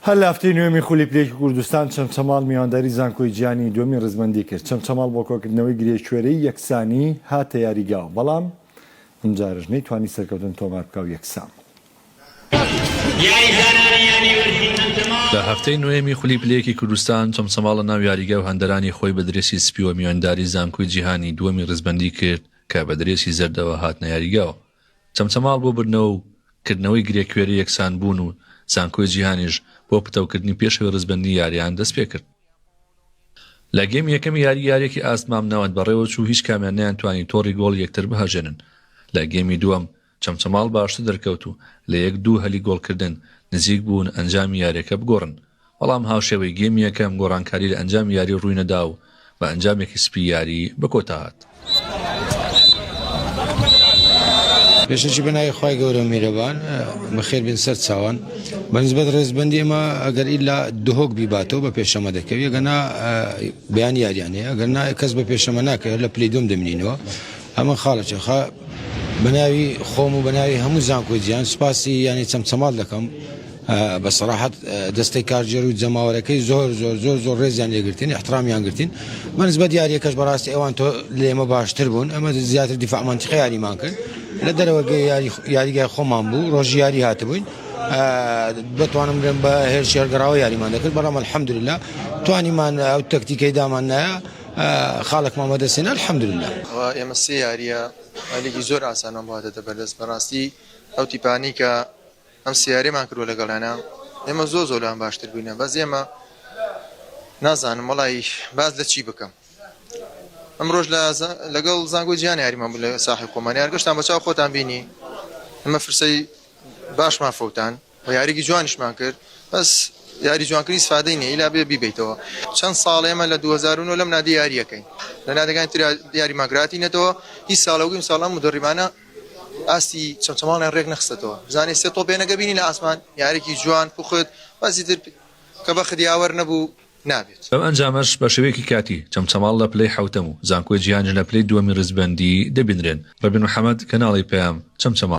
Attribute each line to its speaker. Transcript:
Speaker 1: هەر لە هەفتەی نۆیەمی خولی پلەیەکی کوردستان چەمچەماڵ میوانداری زانکۆی جیهانی دووەمی ڕیزبەندی کرد، چەمچەماڵ بۆ کۆکردنەوەی گرێکوێرەی یەکسانی هاتە یاریگا و بەڵام ئەمجارەش نەیتوانی سەرکەوتن تۆمار بکا و یەکسان بوو.
Speaker 2: لە هەفتەی نۆیەمی خولی پلەیەکی کوردستان چەمچەماڵ لە ناو یاریگا و هەندەرانی خۆی بە درێسی سپیوە میوانداری زانکۆی جیهانی دووەمی ڕیزبەندی کرد کە بە درێسی زەردەوە هاتنە یاریگا و چەمچەماڵ بۆ بردنەوە و کردنەوەی گرێکوێری یەکسان بوون و زانکۆی جیهانیش بۆ پتەوکردنی پێشەوەی ڕیزبەندی یارییان دەستپێکرد. لە گێمی یەکەمی یاری یاریەکی ئاست مامناوەند بەڕێوەچوو هیچ کامیان نەیانتوانی تۆڕی گۆڵی یەکتر بهەژێنن، لە گێمی دووەم چەمچەماڵ باشتر دەرکەوت و لە یەک دوو هەلی گۆڵکردن نزیک بوون ئەنجامی یاریەکە بگۆڕن، بەڵام هاوشێوەی گێمی یەکەم، گۆڕانکاری لە ئەنجامی یاری ڕووی نەدا و بە ئەنجامێکی سپی یاری بە کۆتا هات.
Speaker 3: پێشەکی بە ناوی خوای گەورە و میرەبان بەخێر بێن سەر چاوان بە نسبەت ڕێزبەندی ئەمە ئەگەر ئیلا دهۆک بیباتەوە بە پێشەمە دەکەوی گەنا بەیان یاریانەیە ئەگەر نا کەس بە پێشەمە ناکەوێت لە پلی دوم دەمنینەوە ئەمە خاڵێکی خا بە ناوی خۆم و بە ناوی هەموو زانکۆی جیان سوپاسی یانی چەمچەماڵ دەکەم بە سەراحەت دەستەی کارگێر و جەماوەرەکەی زۆر زۆر زۆر زۆر ڕێزیان لێگرتین احترامیان گرتین بە نسبەت یاریەکەش بەڕاستی ئەوان تۆ لێمە باشتر بوون ئەمە زیاتر دیفاع منتیقە یاریمان کرد لە دەرەوە گەی یاری یاریگای خۆمان بوو ڕۆژی یاری هاتبووین بتوانم بڵێم بە هێرش هەرگەڕاوە یاریمان دەکرد بەڵام الحمدلله توانیمان ئەو تەکتیکەی دامان نایە خاڵێکمان بەدەستێنە الحمدلله ئێمە سێ
Speaker 4: یاریە لیگی زۆر ئاسانمان بووە دەدە بەردەست بەڕاستی ئەو تیپانی کە ئەم سێ یاریەمان کردوە لەگەڵیانا ئێمە زۆر زۆر لەوان باشتر بووینە بەس ئێمە نازانم وەڵی باز لە چی بکەم ئەمڕۆژ لە لەگەڵ زانگۆ جیان یاریمان بوو لە ساحی خۆمان یارگەشتان بەچاو خۆتان بینی ئەمە فرسەی باشمان فەوتان و یاریگی جوانیشمان کرد بەس یاری جوانکردنی سفادەی نیە ئیلا بێ بیبیتەوە چەند ساڵ ئێمە لە 2009 لەم نادی یاریەکەین لە نادەکان تر یاری ماگراتی نەتەوە هی ساڵەوەگەیم ساڵام و دەڕیمانە ئاستی چەمچەماڵیان رێک نەخستەتەوە بزانێ سێ تۆپێ نەگە بینی لە ئاسمان یاریکی جوان پوخت بەسی تر کە بەخت یاوەر نەبوو نابێت. بەم ئەنجامەش بە
Speaker 2: شێوەیەکی کاتی، چەمچەماڵ لە پلەی حەوتەم و زانکۆی جیهانیش لە پلەی دووەمی ریزبەندی دەبینرێن. رەبین محەمەد، کەناڵی پەیام، چەمچەماڵ.